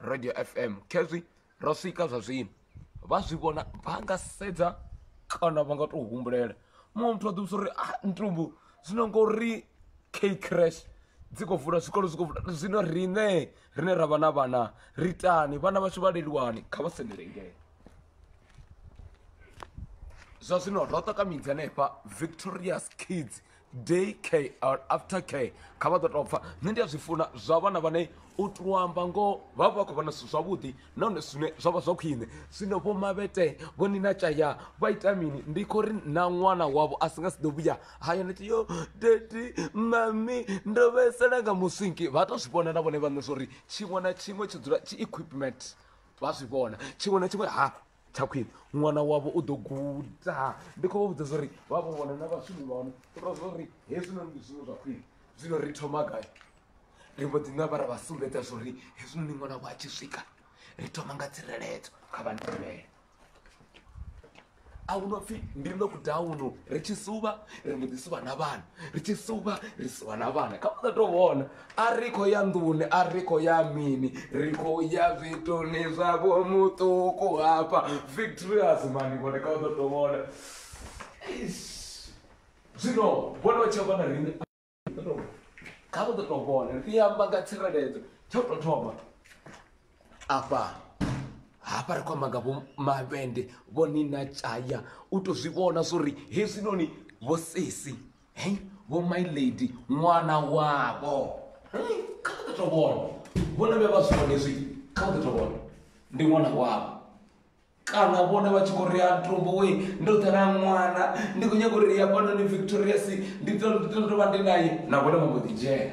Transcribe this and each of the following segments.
radio fm khezwi ro swika zwa zwino vha zwi vhona vha nga sedza kana vha nga tou humbulela muṅwe muthu a ḓivhusa uri a ah, ntumbu zwino ngori k crash dzi khou vula zwikolo zwi khou vula zwino riṋe rine ra vha na vhana ri tani vhana vhashu vha leluwani kha vha sendelengele zwa zwino ro ṱakamidza hanefha victorious kids day care or after care kha vha ḓo tou pfa nṋe ndi a zwi funa zwa vhana vhane u tou amba ngoho vha vha vha khou vhona zwithu zwavhuḓi nahone zwine zwa vha zwa khwine zwino vho mavhete vho ni na tshaya vha ita mini ndi khou ri na ṅwana wavho a si nga si ḓo vhuya haya ndi tshi yo dadi mami ndo vhaisala nga muswinki vha tou zwi vhona na vhone vhaṋe zwo ri tshiṅwe na tshiṅwe tshi dzula tshi equipment vha zwi vhona tshiṅwe na tshiṅwe ha tsha khwine ṅwana wavho u ḓo guda ndi khou vha vhudza zwa uri vha vho vhona na vhashumi vha hone u tou zwa uri hezwinoni ndi zwiṅwe zwa khwine zwino ri thoma gai ri mbo ḓi namba ra vha sumbedza zwa uri hezwinoni ṅwana wa tshi swika ri thoma nga tsireledzo kha vha ndivhele a hu no pfhi ndi ndo kudauno ri tshi suvha ri mbo ḓi suvha na vhana ri tshi suvha ri suvha na vhana kha vha sa tou vhona A ri khou ya nḓuni, a ri khou ya mini, ri khou ya zwituni zwa vho muṱuku hafha Victory Azimani vhone kha u ḓo tou vhona. Zwino vhone vha tshi amba na riṋe kha vha ḓo tou vhona ri amba nga tsireledzo tsha u tou thoma afha hafha ri khou amba nga vho mavhende vho ni na tshaya u tou zwi vhona zwo ri hezwinoni vho sesi hei vho my lady ṅwana wavho kha vha ḓo to vhona vhone vhe vha zwi vhone zwi kha vha ḓo to vhona ndi ṅwana wavho kana vhone vha tshi khou ri a tumbo we ndo ḓela ṅwana ndi khou nyaka uri ya fhanoni victorious ndi ḓo tou vha ndi naye na vhone vha mbo ḓi dzhena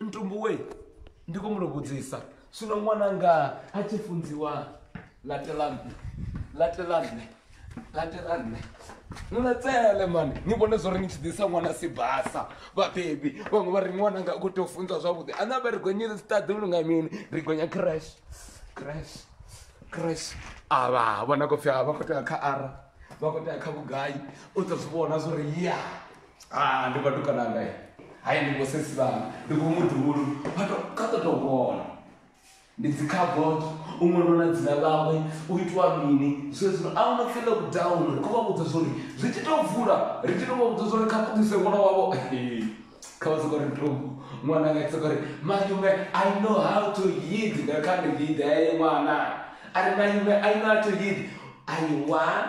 ntumbuwe ndi khou mu vhudzisa zwino ṅwananga a tshi funziwa latelanne latelanne latelanne nulatsele mani ni vhone zwo ri ni tshi ḓisa ṅwana sibasa vhabebi vhaṅwe vha ri ṅwananga u khou tea u funzwa zwavhuḓi ana vha ri gonye siṱaḓi lu nga mini ri gonya crash crash crash avha vhona khou pfhi a vha khou tea kha ara vha khou tea kha vhugai u ḓo zwi vhona zwo ri ya ah ndi vhatukana ngae hayi ndi vho sesi vhanga ndi vho muḓulu vha to kha ḓo tou vhona ndi dzi carbot u ṅwalwa na dzina ḽawe u itiwa mini zwezwino a hu no pfi lockdown ri khou vha vhudza zwori zwi tshi tou vula ri tshi tou vha vhudza zwori kha ṱuḓise ṅwana wavho kha vha sokori ntombo ṅwana nga sokori mayume i know how to yid nga kha ndi yid eye ṅwana a ri mayume i know how to yid ayi one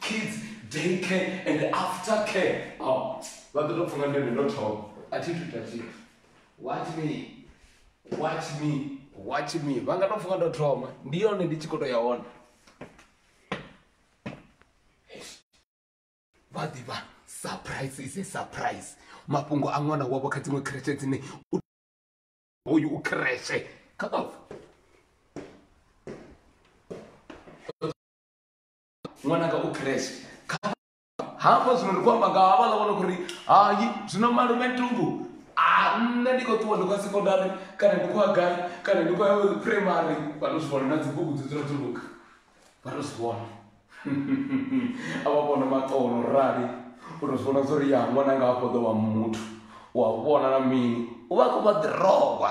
kids day care and after care vha ḓo tou pfha nga ndeme ndo thoma a thi thu ita tshithu watch me watch me watch me vha nga tou pfha nga ndo thoma ndi yone ndi tshi khou tou ya hone vha ḓivha surprise is a surprise mafhungo a ṅwana wavho kha dziṅwe kreshe dzine hoyu u kreshe kha ṅwananga u crash hafha zwino ndi khou amba nga havhaḽa vhona kuri hayi zwino malume ntungu a nṋe ndi khou ṱuwa ndi khou ya sekondari kana ndi khou ya gai kana ndi khou ya primary vha to zwi vhona na dzibugu dzi dzula dzuluka vha to zwi vhona a vha vhona maṱono rali u to zwi vhona zwo ri ya ṅwananga hafho ḓo wa muthu u a vhona na mini u vha khou vha ḓirogwa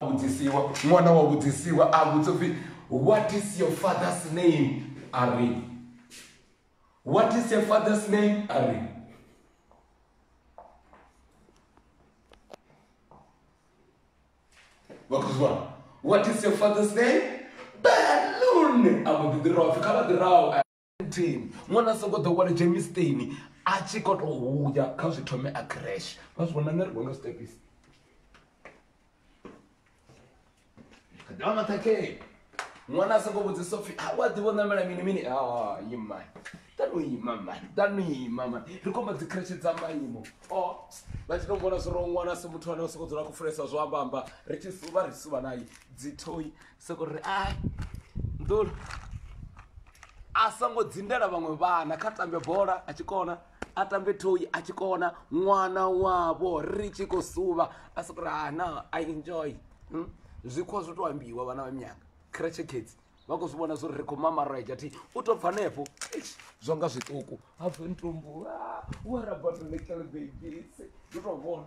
vhudzisiwa ṅwana wa vhudzisiwa a vhudza upfhi what is your father's name a ri what is your father's name a ri vhakhuzwa what is your father's name balloon a mbo ḓi ḓi rwa pfhi kha vha ḓi raho 17 ṅwana a songo ḓo wale jemisteni a tshi khou tou huya kha zwi thome a crash vha zwi vhona nṋe ri gonga stepis damathakee ṅwana a songo vhudzisa upfhi a wa ḓivha u ṋamela mini mini imani tano ima mani tano ima mani ri khomba dzi kreshe dza maimo o oh, vha tshi to vhona zwo ro ṅwana si muthu ane o soko dzula khou fulesa zwo ambamba ri tshi suva ri suva naye dzithoi soko ri ai nḓulo a songo dzindela vhaṅwe vhana kha tambe bola a tshi kona a tambe thoyi a tshi kona ṅwana wavho ri tshi khou suvha a soko ri ana i enjoy hmm? zwikhwa zwo to ambiwa vhana vha minyanga creche kids vha khou zwi vhona zwo ri ri khou mamareja thi u to bva nefho zwo nga zwiṱuku hafhe ntumbu ah, wa rabatolekelebebisi ndi to vhona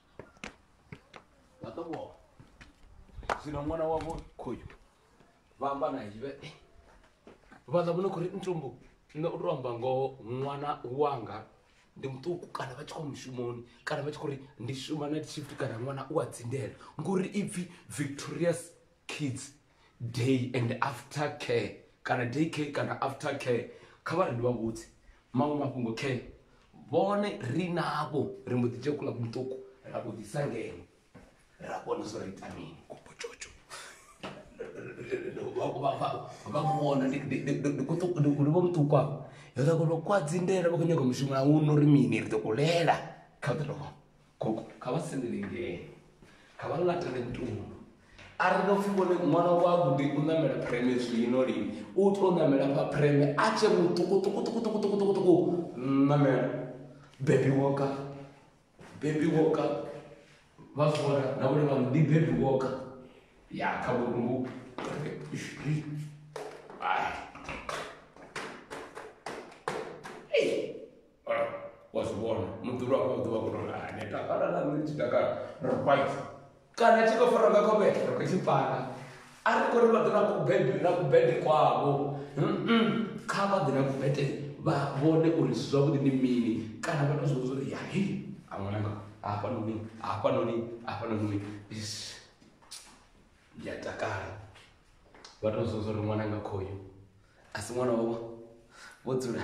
vhaṱokoa zwino ṅwana wavho khoyu vha amba naye vhe eh, vhaḽa vhone khori ntombo nṋe u to amba ngoho ṅwana wanga ndi muṱuku kana vha tshi khou mushumoni kana vha tshi khou ri ndi shuma na shift kana ṅwana u a dzindela ngori ipfhi victorious kids day and after care kana day care kana after care kha vha ri ndi vha vhudze maṅwe mafhungo care vhone ri navho ri mbo ḓi dzhia kula muṱuku ra vho ḓisa ngeno ra vhona zwo ri ita mini kopotshotsho vha muvhona ndi vho muṱuku avho yo ḓa kolo kwa dzindela vha khou nyaga mushumo a uno ri mini ri ḓo kulela kha ḓorobo gogo kha vha sendele ngei kha vha laṱele ntungo a ri no pfhi vhone ṅwana wa gude u ṋamela phureme zwino lini u to ṋamela fha phureme a tshe muṱukuṱukuṱukuṱukuṱukuṱuku ṋamela bebi woka bebi woka vha fora na vhone vha ndi bebi woka ya kha vhukumbu ai wa zwi vhona muḓulu wa vhuḓi wa kuno ane takala na nṋe tshi takala ro fight kana tshi khou fara nga kho vhe ro tshi fara a ri kho ri vha ḓo na kubede na kubede kwavho kha vha ḓe na kubede vha vhone uri zwi zwavhuḓi ndi mini kana vha to zwi vhudza uri ya he a ṅwananga hafha noni hafha noni hafha noni ndi a takala vha to zwi vhudza uri ṅwananga khoyo a si ṅwana wavho vho dzula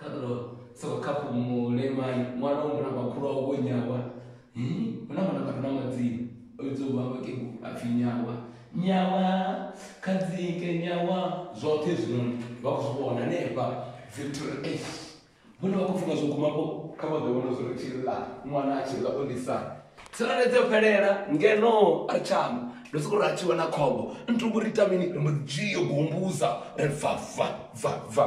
Khaḓo soko khaphu mulemani ṅwana wa muna makhulu awu vho nyawa hu na vhana vhare na madzina o vhidza u vha vhakegu a pfhi nyawa nyawa khadzike nyawa zwoṱhe zwinoni vha khou zwi vhona hanefha victory h vhone vha khou pfhi nga zwo gumapo kha vha ḓo vhona zwo ri tshi ḽa ṅwana a tshi ḽa o lisa tsireledzo yo fhelela ngeno a ri tshama ndo soko ri a tshi wana khombo ntuku ri ita mini ri mbo ḓi dzhio gombuza ri bva bva bva bva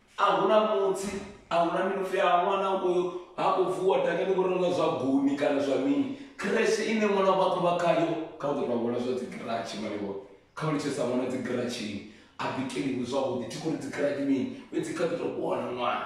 a hu na mutsi a hu na mini upfi a ṅwana ha khou vuwa dakani vho renga zwa guni kana zwa mini khrese ine ṅwana vha khou vha khayo kha u ḓo tou vhona zwa dzigiratshi maliwa kha u litshesa ṅwana dzigiratshini a bikeliwe zwavhuḓi thi khou ri dzigiratshi mini fhedzi kha ḓi tou vhona ṅwana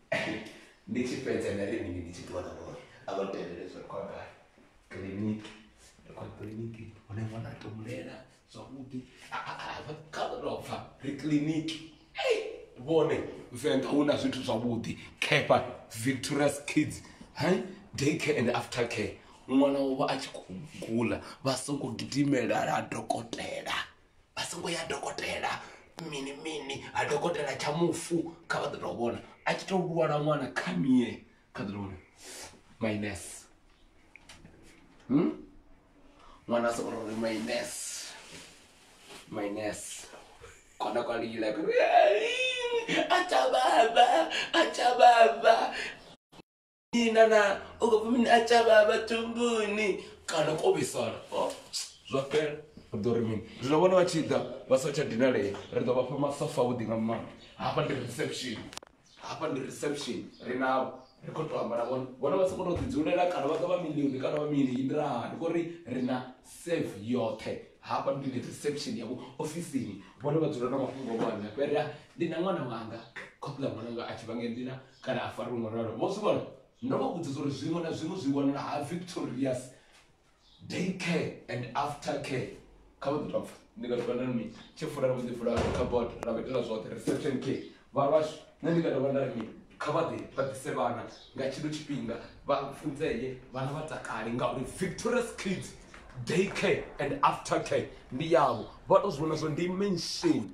ndi tshi fhedza nda ri mini ndi tshi ṱuwa na vhori a vha tevhele zwa khou amba kiḽiniki ri khou kiḽiniki hune ṅwana a tou mulela zwavhuḓi kha ḓo tou pfha ri kiḽiniki vhone venḓa hu na zwithu zwavhuḓi kepa victorious kids hai day care and after care ṅwana wovha a tshi khou gula vha songo gidimela ha dokotela vha songo ya dokotela mini mini ha dokotela tsha mufu kha vha ḓo tou vhona a tshi tou lwala ṅwana kha mie kha ḓo tou vhona minus hmm? ṅwana a songo ri minus minus kona kwa lila kuri acha baba acha baba ina na u khou pfi mini a tsha vhavha thumbuni kana ko vhisala Oh, zwa fhela ri ḓo ri mini zwino vhone vha tshi ḓa vha sa tsha dinalea ri ḓo vha fha masofa avhuḓi nga maanḓa hafha ndi reception hafha ndi reception ri navho ri khou tou amba na vhone vhone vha sokou tou ḓidzulela kana vha ḓo vha milioni kana vha mini ndi ra ndi khou ri ri na save yoṱhe hafha ndi ndi reception yavho ofisini vhone vha dzula na mafhungo avho hanefho ri a ndi na ṅwana wanga khophi ḽa ṅwananga a tshi vha ngei ndi na Kana a fariwe ngo ralo. Vho zwi vhona? Ndo vha vhudza zwa uri zwiṅwe na zwiṅwe zwi wanala ha Victorious Day Care and After Care. Kha vha ḓo tou pfa. Ndi nga dovha nda ri mini? Tshi fula ra mbo ḓi vula cupboard ra vha itela zwoṱhe, reception care. Vha lwa shu. Nṋe ndi nga dovha nda ri mini? Kha vha ḓe vha ḓise vhana nga tshino tshifhinga vha funzee, vhana vha takale ngauri Victorious Kids Day Care and After Care ndi yavho. Vha tou zwi vhona zwa uri ndi mention.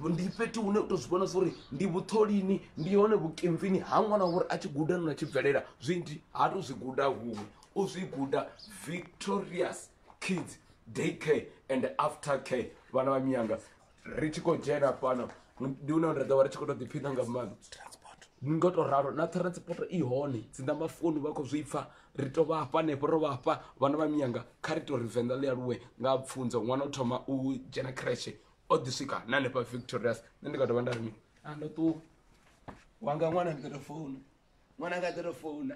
ndi fhethu hune u to zwi vhona zwa uri ndi vhutholini ndi hone vhukimvini ha ṅwana wa uri a tshi guda nona tshi bvelela zwinzhi ha to zwi guda huṅwe u zwi guda victorious kids day care and after care vhana vha miyanga ri tshi khou dzhena fhano ndi hune nda ḓovha ri tshi khou to ḓiphina nga maanḓa ni ngo to ralo na transport i hone dzinda mafoni vha khou zwi pfha ri to vha hafha hanefho ro vha hafha vhana vha miyanga kha ri to ri venḓa ḽi aluwe nga pfunzo ṅwana u thoma u dzhena kreshe o ḓi swika na hanefha victorious nṋe ndi nga dovha nda ri mini a ndo ṱuwa wanga ṅwana ndi ḓo to founa ṅwana nga ḓo to founa